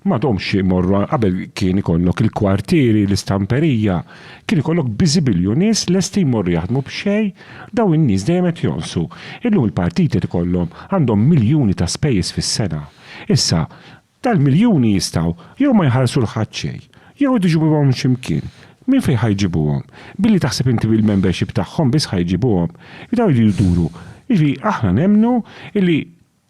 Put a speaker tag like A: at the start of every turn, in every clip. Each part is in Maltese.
A: M'għadhomx imorru qabel kien ikollok il-kwartieri, l-istamperija, kien ikollok biżibilju nies lesti jmorru jaħdmu b'xejn, dawn in-nies dejjem qed jonqsu. Illum il-partiti qed ikollhom, għandhom miljuni ta' spejjeż fis-sena. Issa, dal-miljuni jistgħu jew ma jħallsu 'l ħadd xejn, jew irid iġibuhom minn xi mkien. Minn fejn ħa jġibuhom? Billi taħseb inti bil-membership tagħhom biss ħa jġibuhom? Dawn iridu jduru. Jiġifieri aħna nemmnu li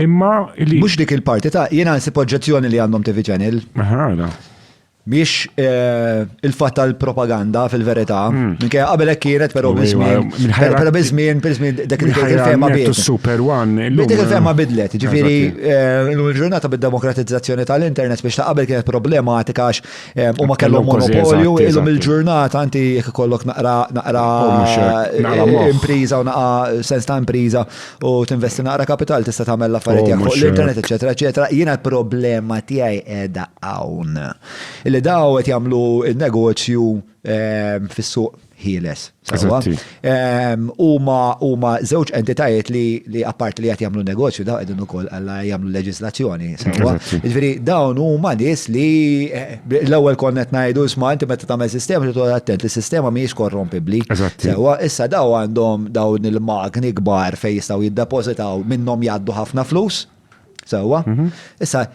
A: Imma li. Mhux dik il-parti ta'
B: jiena nsib oġġezzjoni li għandhom TV Channel. Ħana. Mhix eh, il-fatt tal-propaganda fil-verità. Hmm. Minkejja qabel hekk kienet però biżmien. Però biżmien, biżmien dak il-fema bidlet. Super One. Dik il-fema eh, bidlet. Ġifieri eh, l-ġurnata bid-demokratizzazzjoni tal-internet biex ta' qabel kienet problematika għax huma kellhom monopolju illum il-ġurnata anti jekk ikollok naqra naqra oh, impriża u naqra sens ta' impriża u tinvesti naqra kapital tista' tagħmel l-affarijiet oh, tiegħek fuq l-internet, eċetera, eċetera. Jiena l-problema tiegħi qiegħda hawn. Illi daw qed jagħmlu n-negozju ehm, fis-suq ħieles. Ehm, huma huma żewġ entitajiet li li apparti li qed jagħmlu negozju daw qegħdin ukoll alla jagħmlu leġislazzjoni. Jiġifieri dawn huma nies li eh, L-ewwel konna qed ngħidu isma' inti meta tagħmel sistema trid toqgħod attent li sistema mhijiex korrompibbli. Eżatt. Sewwa, issa daw għandhom dawn il-magni kbar fejn jistgħu jiddepożitaw minnhom jgħaddu ħafna flus. Sewwa. Issa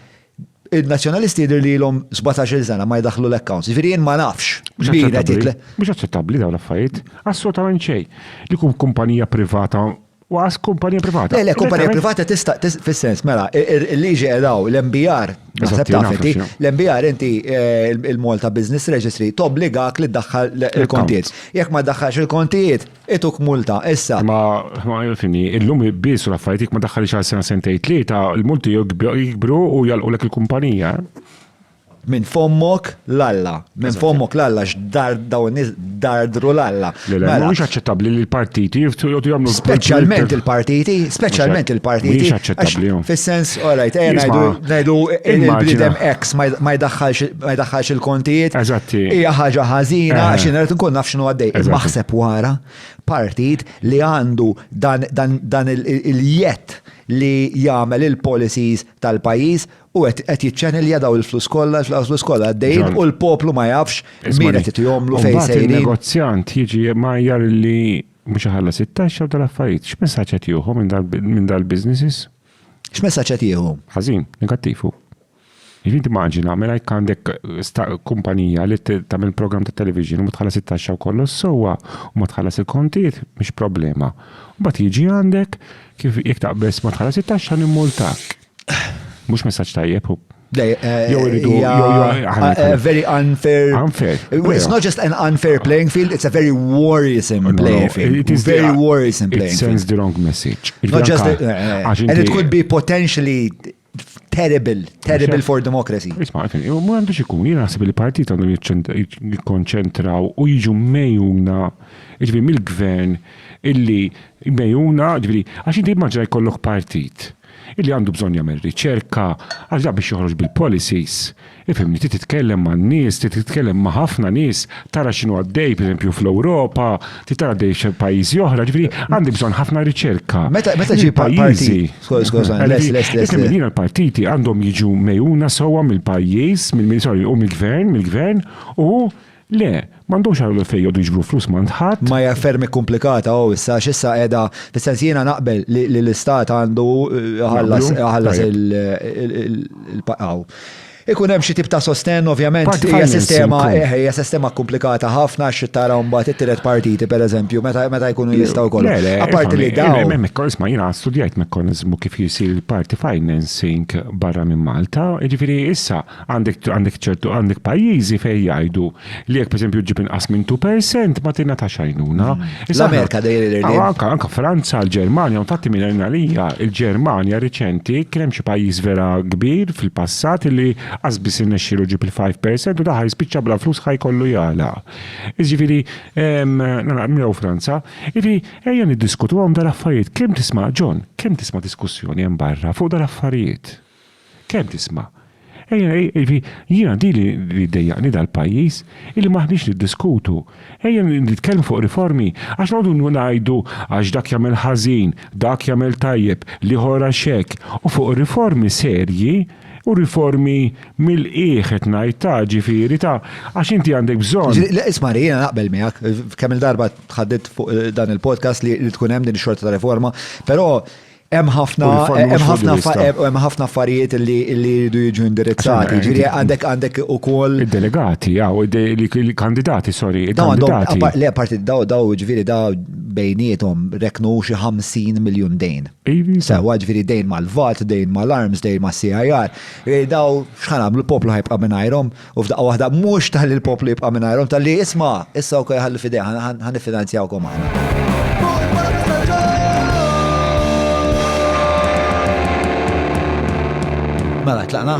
B: in-Nazzjonalisti jidher li ilhom 17-il sena ma jdaħħlu l-accounts. Jiġifieri jien ma nafx. Mhux
A: aċċettabbli dawn l-affarijiet. Assolutament xejn. Li kumpanija privata Waqas kumpanija privata. Le, le, kumpanija privata
B: tista' fis-sens, mela, il-liġi edaw, l-MBR, naħseb tafeti, l-MBR inti eh, il-Malta Business Registry tobbligak li ddaħħal il-kontijiet. Jekk ma ddaħħalx il-kontijiet, ituk multa, issa. Ma ma fini,
A: illum biss u l-affarijiet ma daħħalix għal sena sentej tlieta, il-multi jikbru u jalqulek il-kumpanija.
B: Minn fommok l-Alla. Minn fommok l-Alla x'dar dawn in-nies dardru l-Alla. Le, le, mhuwiex aċċettabbli
A: li l-partiti jiftu jgħodu jagħmlu Speċjalment
B: il-partiti, speċjalment il-partiti.
A: Mhijiex aċċettabbli. Fis-sens, all right,
B: ejja ngħidu ngħidu il-bniedem X ma jdaħħalx il-kontijiet. Eżatti. Hija ħaġa ħażina għax jien irid nkun naf x'inhu għaddej. Imma ħseb wara partit li għandu dan il-jett li jagħmel il-policies tal-pajjiż u qed qed jiċċenilja daw il-flus kollha, il-flus flus kollha għaddejjin Ġon. u l-poplu ma jafx min Ismani. qed itihomlu fejn Mbagħad sejrin. il-negozjant jiġi
A: majjar li mhux iħallas it-taxxa u tal-affarijiet. X'messaġġ qed jieħu minn dal- minn dal-businesses? X'messaġġ qed
B: jieħu? Ħażin, negattiv hu.
A: Jiġifieri timmaġina mela jekk għandek sta- kumpanija li t- tagħmel programm ta' television u ma tħallas it-taxxa u kollu sewwa u ma tħallas il-kontijiet mhix problema. Mbagħad jiġi għandek kif jekk taqbeż ma tħallas it-taxxa nimmultak. Mhux messaġġ tajjeb u Eh, eh,
B: very unfair. Unfair. It's not just an unfair playing field, it's a very worrisome playing field. It is very worrisome
A: playing
B: field. It sends the wrong message.
A: Not just
B: the, uh, and it could be potentially terrible, terrible for democracy. Isma, u mu għandu
A: xikun, jina għasib il-partit għandu jikonċentraw u jiġu mejuna, ġvi mill-gvern, illi mejuna, ġvi, għax inti maġra jkollok partit illi għandu bżonn jagħmel riċerka għax dak biex joħroġ bil-policies, ifhimni, trid titkellem man-nies, trid titkellem ma' ħafna nies, tara x'inhu għaddej pereżempju fl-Ewropa, trid tara għaddej f'pajjiżi oħra, ġifieri għandi bżonn ħafna riċerka. Meta meta ġi
B: pajjiżi.
A: Isem jiena l-partiti għandhom jiġu mejuna sewwa mill-pajjiż, mill-sorry, u mill-gvern, mill-gvern, u Le, m'għandhomx għal minn fejn jqogħdu jiġbru flus m'għand ħadd. Maya ferm ikkumplikata
B: hu issa għax issa qiegħda, fis-sens jiena naqbel li l-istat għandu iħallas iħallas il hawn. Ikun hemm xi tip ta' sostenn ovvjament. Part hija finance sistema ukoll. eh, hija sistema kkumplikata ħafna għax trid tara mbagħad it-tielet partiti pereżempju meta meta jkunu jistgħu wkoll. Le, le, Apparti li ifhem, dawn. ifhem, mekko- Isma' jiena studjajt
A: mekkaniżmu kif jisir il-party financing barra minn Malta, jiġifieri issa Għandek għandek ċertu għandek pajjiżi fejn jgħidu li jekk pereżempju ġib inqas minn 2% ma tina ta' xajnuna. Mm. L-Amerika
B: dejjem ah, Anka anka Franza,
A: l-Ġermanja, u tagħti minn għalija, il-Ġermanja riċenti kien hemm xi pajjiż vera kbir fil-passat li qas biss innexxielu ġib il-5% u daħal spiċċa bla flus ħaj kollu jala. Iġifieri nagħmlu Franza, iġifieri ejja niddiskutuhom dal-affarijiet kemm tisma' John, kemm tisma' diskussjoni hemm barra fuq dal-affarijiet. Kemm tisma'. Ejja, jiġifieri, jiena dik li li ddejjaqni dal-pajjiż, illi m'aħniex niddiskutu. Ejja nitkellmu fuq riformi, għax noqogħdu ngħidu għax dak jagħmel ħażin, dak jagħmel tajjeb, l-ieħor għax hekk, u fuq riformi serji, u riformi mill-qiegħ qed ngħid ta' ġifieri ta' għax inti għandek bżonn. Le isma' ri, jiena naqbel
B: miegħek, kemm-il darba tħaddidt fuq dan il-podcast li tkun hemm din ix-xorta ta' riforma, però Hemm ħafna hemm ħafna affarijiet li jridu jiġu indirizzati. Ġifieri għandek għandek ukoll. Id-delegati, jaw,
A: il-kandidati, sorry, il-kandidati. Le, parti daw
B: daw ġifieri daw bejnietom reknu xi 50 miljun dejn. Sewa ġifieri dejn mal-VAT, dejn mal-arms, dejn mas-CIR. Daw x'ħan għamlu l-poplu ħajbqa' mingħajrhom. U f'daqqa waħda mhux tal il-poplu jibqa' mingħajrhom tal-li isma' issa wkoll ħallu f'idejha ħan niffinanzjawkom aħna. Mela, tlaqna?